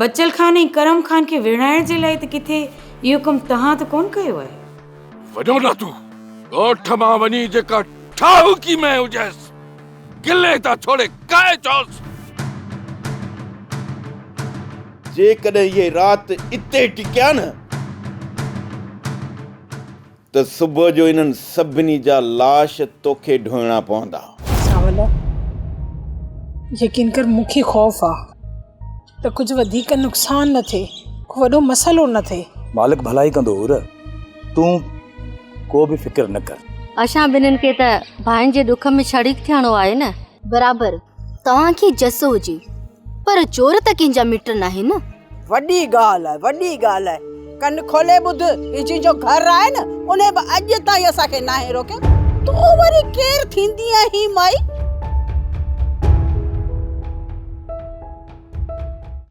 بچل خان ۽ ڪرم خان کي ويڙهائڻ جي لاء ته ڪٿي اهو ڪم توهان ته ڪونه ڪيو آهي؟ وڃو نه تون ڳوٺ مان وڃي جيڪا ٺاهوڪي مئي هجيس گلي تان ڇوڙي کائي چوس. جيڪڏهن اهي رات اتي ٽڪيا نه. ته صبح جو انهن سڀني جا لاش توکي ڍوئڻا پوندا. سانولا، يقين ڪر مون کي خوف آ ته ڪجهه وڌيڪ نقصان نه ٿئي، ڪو وڏو مسئلو نه ٿئي. مالڪ ڀلائي ڪندو حور، تون ڪو به فڪر نه ڪر. اسان ٻنهين کي ته ڀائن جي ڏک ۾ شريڪ ٿيڻو آهي نه. برابر. توهان کي جس هجي پر چور ته ڪنهن جا مٽ ناهي نه. وڏي ڳالهه آهي وڏي ڳالهه آهي ڪن کولي ٻڌ هي جنهن جو گهر آهي نه ان به اڄ تائين اسان کي ناهي روڪيو تون وري ڪير ٿيندي آهين مائي.